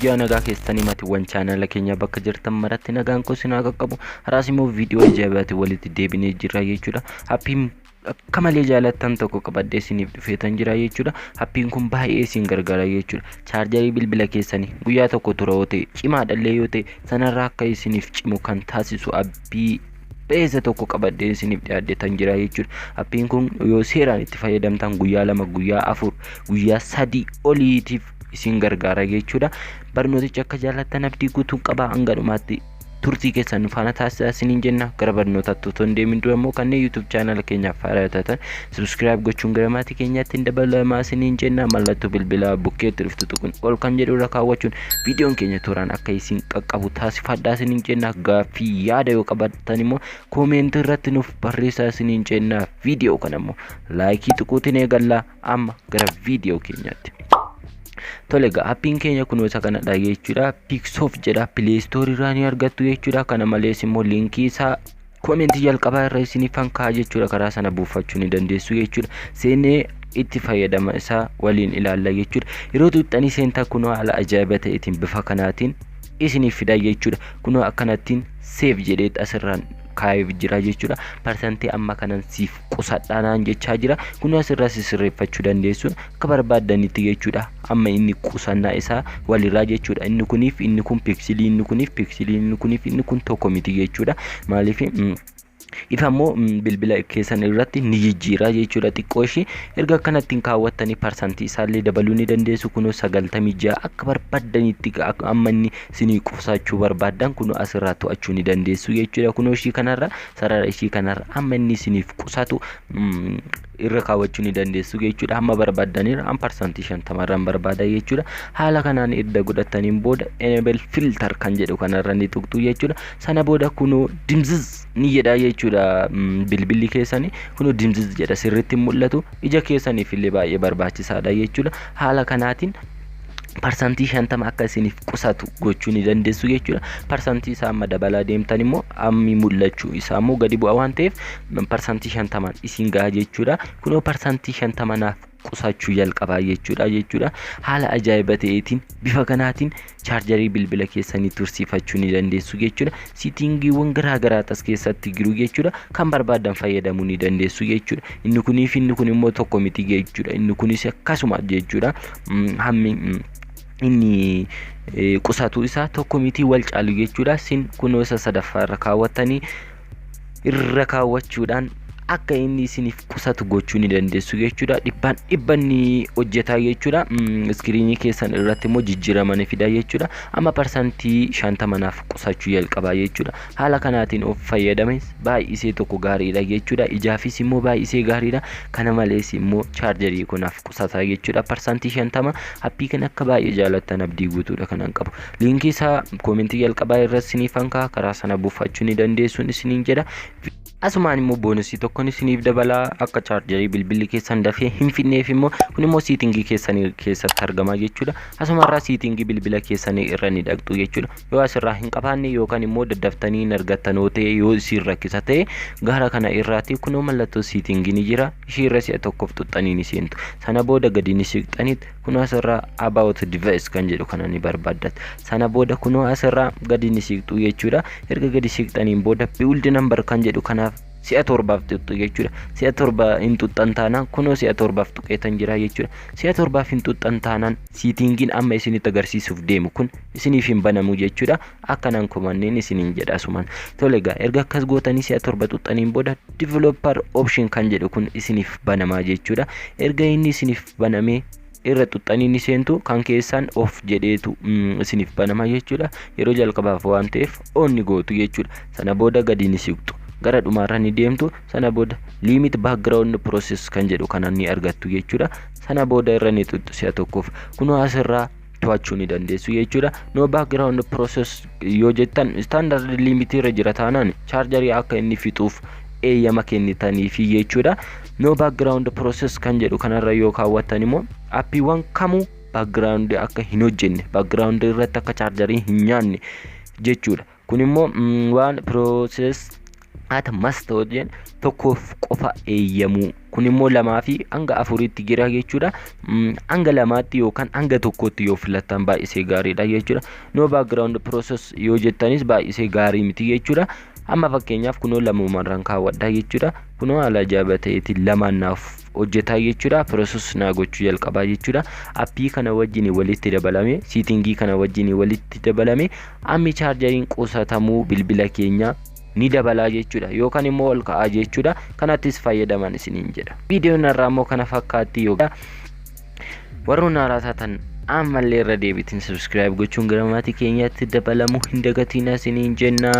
Ji'a nagaa keessanii matiiwwan chaanala keenya bakka jirtan maratti nagaan koo isin haa qaqqabu. Haraas immoo viidiyoo ajaa'ibaatiin walitti deebinee jirra jechuudha. Happiin akka malee jaalattan tokko qabadhee isiniif dhufeetan jira jechuudha. Happiin kun baay'ee isin gargaara jechuudha. Chaarjarii bilbila keessanii guyyaa tokko tura yoo ta'e cimaadhallee yoo ta'e sanarraa akka isiniif cimu kan taasisu appii beeksisa tokko qabadheen isiniif dhiyaadhetan jira jechuudha. Appiin kun yoo seeraan itti fayyadamtan guyyaa lama, guyyaa afur, guyyaa sadii oliitiif isin gargaara jechuudha. Barnooticha akka jaallattan abdii guutuun qaba hanga dhumaatti turtii keessan nu faana taasisaa isiniin jenna. Gara barnootaatti otoo hin deemin dura immoo kanneen YouTube chaanala keenyaaf haaraa taatan Subscribe gochuun gara maatii keenyaatti hin dabalamaa isiniin jenna mallattoo bilbilaa bukkeetti dhuftu tuquun ol kan jedhu irra kaawwachuun viidiyoon keenya tooraan akka isin qaqqabu taasifadhaa isiniin jenna gaaffii yaada yoo qabaattan immoo koomeentii irratti nuuf barreessaa isiniin jenna viidiyoo kana immoo laayikii tuquutiin eegallaa amma gara viidiyoo keenyaatti. Tole egaa appiin keenya kunoo isa kanadha jechuudha. Pixof jedha pileestoorii irraa ni argattu jechuudha. Kana malees immoo liinkii isaa Comment jalqabaa irra isinifan kaa'a jechuudha karaa sana buufachuu ni dandeessu jechuudha seenee itti fayyadama isaa waliin ilaalla jechuudha yeroo tuuxxanii seentaa kunoo haala ajaa'iba ta'eetiin bifa kanaatiin isiniif fidaa jechuudha kunoo akkanattiin seef jedheet asirraan kaa'eef jira jechuudha parsantii amma kanan siif qusadhaa naan jechaa jira kun asirraa sisirreeffachuu dandeessu akka barbaaddanitti jechuudha amma inni qusannaa isaa walirraa jechuudha inni kuniif inni kun piksilii inni kuniif piksilii inni kuniif inni kun tokko miti jechuudha maaliif if ammoo bilbila keessan irratti ni jijjiira jechuudha xiqqoo ishii erga akkanattiin kaawwattanii parsantii isaallee dabaluu ni dandeessu kunoo sagaltamii ja'a akka barbaaddanitti amma inni isinii qusachuu barbaaddan kunoo asirraa to'achuu ni dandeessu jechuudha kunoo ishii kanarra sarara ishii kanarra amma inni isiniif qusatu mm, irra kaawwachuu ni dandeessu jechuudha amma barbaaddanirra an parsantii shantamarraan barbaada jechuudha haala kanaan erga godhattaniin booda enable filter kan jedhu kanarra ni tuqxu jechuudha sana booda kunoo dimziz ni jedha jechuudha mm, bilbilli keessanii kunoo dimziz jedha sirriitti hin mul'atu ija keessaniif illee baay'ee barbaachisaadha jechuudha haala kanaatiin parsantii shantama akka isiniif qusatu gochuu ni dandeessu jechuudha. Parsantii isaa amma dabalaa deemtan immoo ammi mul'achuu isaa immoo gadi bu'a waan ta'eef parsantii shantamaan isin gaha jechuudha. Kunoo parsantii shantama naaf qusachuu jalqabaa jechuudha jechuudha. Haala ajaa'iba ta'eetiin bifa kanaatiin chaarjarii bilbila keessanii tursiifachuu ni dandeessu jechuudha. Sitingiiwwan garaa garaa as keessatti jiru jechuudha. Kan barbaadan fayyadamuu ni dandeessu jechuudha. Inni kunii fi inni kun immoo tokko miti jechuudha. Inni kunis akkasuma jechuudha. Mm, Hammi mm, inni eh, qusatu isaa tokko miti wal caalu jechuudha. Sin kunoo isa sadaffaa irra kaawwattanii irra kaawwachuudhaan akka inni isiniif qusatu gochuu ni dandeessu jechuudha. Dhibbaan dhibba ni hojjetaa jechuudha. Iskiriinii keessan irratti immoo jijjiirama ni fida jechuudha. Amma parsantii shantama naaf qusachuu jalqabaa jechuudha. Haala kanaatiin of fayyadames baay'isee tokko gaariidha jechuudha. Ijaafis immoo baay'isee gaariidha. Kana malees immoo chaarjarii kun naaf qusata jechuudha. Parsantii shantama appii kan akka baay'ee jaalattan abdii guutuudha kanan qabu. Liinkii isaa koomentii jalqabaa irratti isiniif hankaa karaa sana buufachuu ni dandeessuun isiniin jedha. Asumaan immoo boonusii tokkon isiniif dabalaa akka chaarjarii bilbilli keessan dafee hin fidneef immoo kun immoo siitingii keessanii keessatti argama jechuudha. Asuma irraa siitingii bilbila keessanii irra ni dhaqxu jechuudha. Yoo asirraa hin qabaanne yookaan immoo daddaftanii hin argattan yoo ta'e yoo isiin rakkisa ta'e gara kana irraati kunoo mallattoo siitingii ni jira. Ishii irra si'a tokkoof xuxxanii ni seentu. Sana booda gadi ni siqxaniit kunoo asirraa about device kan jedhu kana ni barbaaddan sana booda kunoo asirraa gadi ni siiqxu jechuudha erga gadi siiqxaniin booda build number kan jedhu kanaaf si'a torbaaf tuqxu jechuudha si'a torba hin tuqxan taanaan kunoo si'a torbaaf tuqeetan jira jechuudha si'a torbaaf hin tuqxan taanaan siitingiin amma isinitti agarsiisuuf deemu kun isiniif hin banamu jechuudha akka nan komanneen isiniin jedha asumaan tole egaa erga akkas gootanii si'a torba xuxxaniin booda developer option kan jedhu kun isiniif banamaa jechuudha erga inni isiniif banamee irra xuxxanii ni seentu kan keessaan of jedheetu isiniif banama jechuudha yeroo jalqabaaf waan ta'eef on ni gootu jechuudha sana booda gadi ni siqxu gara dhumaarra ni deemtu sana booda limit background process kan jedhu kana ni argattu jechuudha sana booda irra ni xuxxu si'a tokkoof kunoo asirraa to'achuu ni dandeessu jechuudha. No background process yoo jettan standard limit irra jira taanaan chaarjarii akka inni fixuuf eeyyama kennitaniifi jechuudha. No background process kan jedhu kanarra yoo kaawwattan immoo appiiwwan kamuu background akka hin hojjenne background irratti akka chaarjarii hin nyaanne jechuudha. kun immoo waan process at must hojjeen tokkoof qofa eeyyamuu kun immoo lamaa fi hanga afuriitti jira jechuudha hanga lamaatti yookaan hanga tokkootti yoo filattan baay'isee gaariidha jechuudha no background process yoo jettanis baay'isee gaarii miti jechuudha amma fakkeenyaaf kunoo lamumarraan kaawwadha jechuudha kunoo haala ajaa'ibaa ta'eetiin lamaan naaf hojjetaa jechuudha process naa gochuu jalqabaa jechuudha appii kana wajjin walitti dabalame siitingii kana wajjin walitti dabalame ammi chaarjariin qusatamuu bilbila keenya ni dabalaa jechuudha yookaan immoo ol ka'aa jechuudha kanattis fayyadaman isiniin jedha viidiyoon irraa immoo kana fakkaatti yookaan warroon haaraa taatan ammallee irra deebiitiin subscribe gochuun gara maatii keenyaatti dabalamuu hin dagatiin isiniin jennaa